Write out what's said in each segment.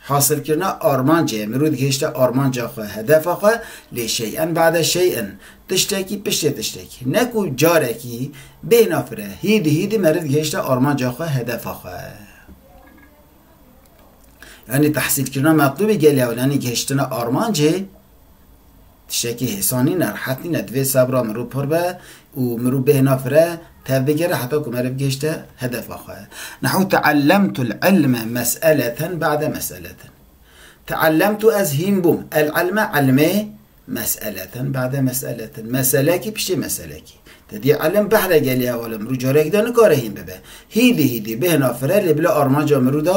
Hasilkirina armancê, mirû digihîşte armanca xwe, hedefa xwe, lê şey'en ba'de şey'in, tiştekî piştê tiştekî, ne ku carekî bêhna fire, hîdî hîdî meriv digihîşte armanca xwe, hedefa xwe. Yanî tahsîlkirina metlûbê gelê ew, yanî gihiştina armancê. Tiştekî hêsan nîn e, rihet nîn e. Divê sebra mirov pir be û mirov bêhna fire tevbigere heta ku meriv gihişte hedefa xwe. Nehu teellemtu l-ilme meseleten ba'de meseleten. Teellemtu ez hîn bûm el-ilme ilmê meseleten ba'de meseleten. Meselekî piştî meselekî. Te dîya ilim behre gelî hevalên mirov careke din nikare hîn bibe. Hîdî hîdî bêhna fire lê bila armanca mirov de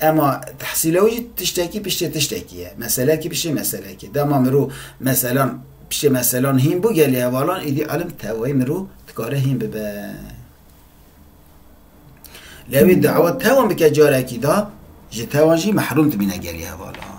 Ema tehsîla wî jî tiştekî piştê tiştekî ye, meselekî piştê meselekî. Dema mirov meselan piştê meselan hîn bû gelê hevalan êdî elim tewayî mirov dikare hîn bibe. Lê wî dawa tewan bike carekî da ji tewan jî mehrûm dibîne gelê hevalan.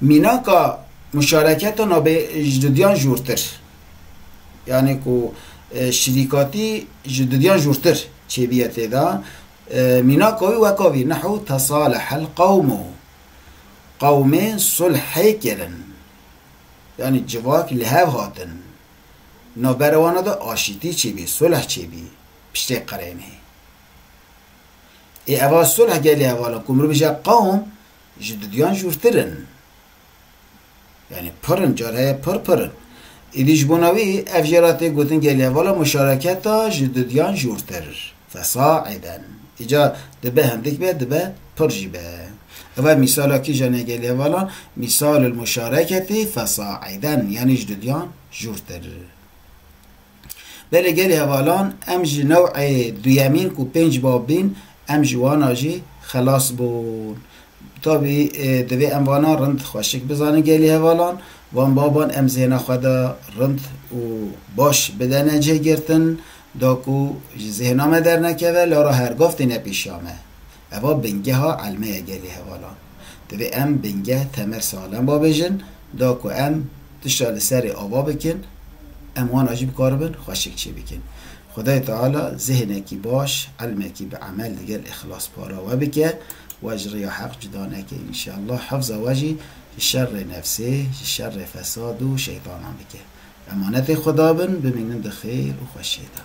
Mînaka muşareketa nabê ji dudiyan jûrtir, yanê ku şirîkatî ji dudiyan jûrtir çêbiye tê da, mînaka wî weka vî, Nehu tesalehel qewmu, qewmê sulhê kirin, yanê civak li hev hatin, navbera wan de aşîtî çêbî, sulh çêbî, piştê qirênê. Ê eva sulh gelê hevala ku mirov jî ya qewm ji duduyan jûrtir in. Yanî pir in, car heye pir pir in. Êdî ji bona wî ev jê re tê gotin gelê hevala muşareketa ji duduyan jûrtir, fesa, êden. Îcar dibe hindik be, dibe pir jî be. Eva mîsala kîjan e gelê hevalan? Mîsalul muşareketî fesa, êden, yanî ji duduyan jûrtir. Belê gelê hevalan em ji new'ê duyemîn ku pênc bab bîn em ji wana jî xelas bûn. Tabî divê em vana rind xweşik bizanin gelê hevalan, van baban em zêna xwe de rind û baş bidene cê girtin da ku ji zêna me dernekeve lara hergav têne pêşiya me. Eva bingeha elme ye gelê hevalan. Divê em bingeh Temer Salemba bêjin, da ku em tişta li serê ava bikin, em wana jî bikaribin xweşik çê bikin. Xwedayê Teala zêhnekî baş, elmekî bi emel digel îxlas para we bike, we ji rêya heq cuda neke înşallah, hifza we jî ji şerrê nefsê, ji şerrê fesad û şeytanan bike. Emanetê Xweda bin, bimînin di xêr û xweşiyê de.